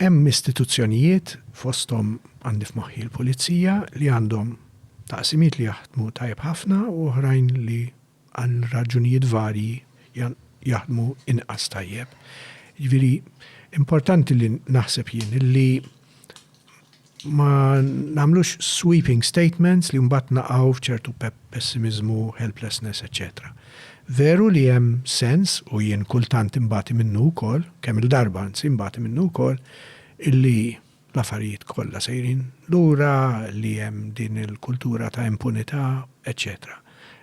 Hemm istituzzjonijiet, fosthom għandi f'moħħi l-Pulizija, li għandhom taqsimiet li jaħdmu tajjeb ħafna u oħrajn li għal raġunijiet varji jaħdmu inqas tajjeb. Jiġifieri importanti li naħseb jien li Ma nagħmlux sweeping statements li mbagħad naqgħu f'ċertu pessimiżmu, helplessness, eċċetera. Veru li hemm sens, u jien kultant inbati minnu wkoll, kemm-il darba anzi nbati minnu wkoll, illi l-affarijiet kollha sejrin lura, li hemm din il-kultura ta' impunità, eċċetera.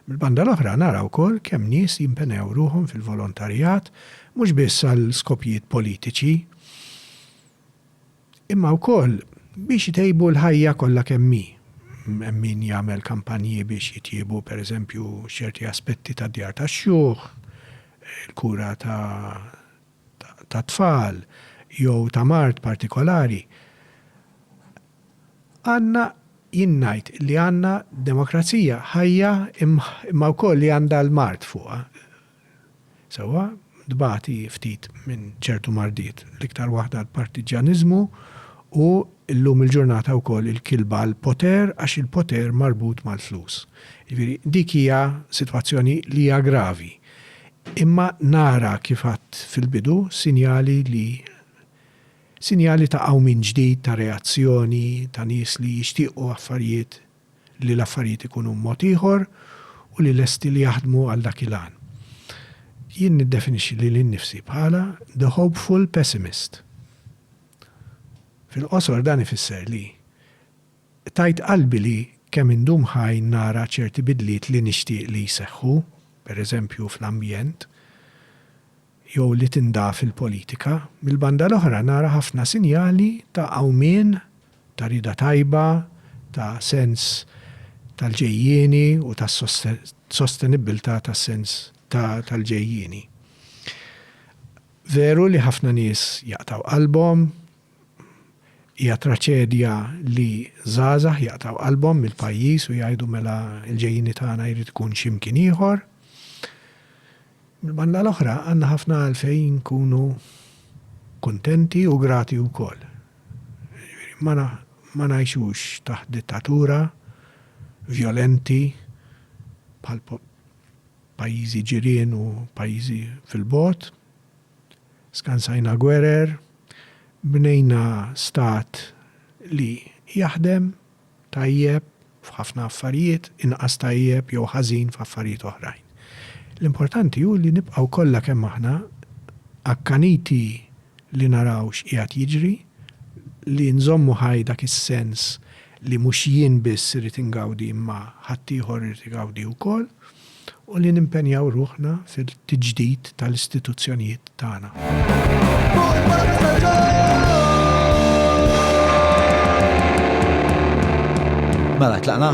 Mill-banda l-oħra nara wkoll kemm nies jimpenjaw ruħhom fil-volontarjat, mhux biss għal skopjiet politiċi, imma wkoll biex itejbu l-ħajja kollha kemm hi. Hemm min jagħmel kampanji biex jitjiebu, pereżempju, ċerti aspetti tad-djar tax-xjuħ, il-kura tat-tfal jew ta' mard partikolari. Għandna, jien ngħid li għandna demokrazija ħajja imma wkoll li għandha l-mard fuqha. sewwa, tbati ftit minn ċertu mardiet, l-iktar waħda l-partiġġjaniżmu u llum il-ġurnata wkoll il-kilba l-poter għax il-poter marbut mal-flus. Jiġifieri dik hija sitwazzjoni li hija gravi. Imma nara kif għedt fil-bidu sinjali li sinjali ta' qawmien ġdid, ta' reazzjoni, ta' nies li jixtiequ affarijiet, li l-affarijiet ikunu b'mod ieħor u li lesti li jaħdmu għal dak il-għan. Jien niddefinixxi lili nnifsi bħala the hopeful pessimist. Fil-qosor dan ifisser li tajt qalbi li kemm indum ħaj nara ċerti bidliet li nixtieq li jseħħu, pereżempju fl-ambjent, jew li tindaf il-politika, mill-banda l-oħra nara ħafna sinjali ta' qawmien, ta' rieda tajba, ta' sens tal-ġejjieni u ta' sostenibbiltà tas-sens tal-ġejjieni. Veru li ħafna nies jaqtgħu qalbhom, hija traċedja li żgħażagħ jaqtgħu qalbhom mill-pajjiż u jgħidu mela l-ġejjieni tagħna jrid ikun x'imkien ieħor. Mill-banda l-oħra, għandna ħafna għalfejn inkunu kuntenti u grati wkoll. Jiġifieri, ma, ma ngħixux taħt dittatura vjolenti bħal pajjiżi ġirien u pajjiżi fil-bogħod. Skansajna gwerer, bnejna stat li jaħdem. tajjeb f'ħafna affarijiet, inqas tajjeb jew ħażin f'affarijiet oħrajn. L-importanti hu li nibqgħu kollha kemm aħna akkaniti li naraw x'qiegħed jiġri, li nżommu ħaj dak is-sens li mhux jien biss irid ingawdi imma ħaddieħor irid igawdi wkoll. u li nimpenjaw ruħna fil-tiġdid tal-istituzzjonijiet tagħna. Mela, tlaqna?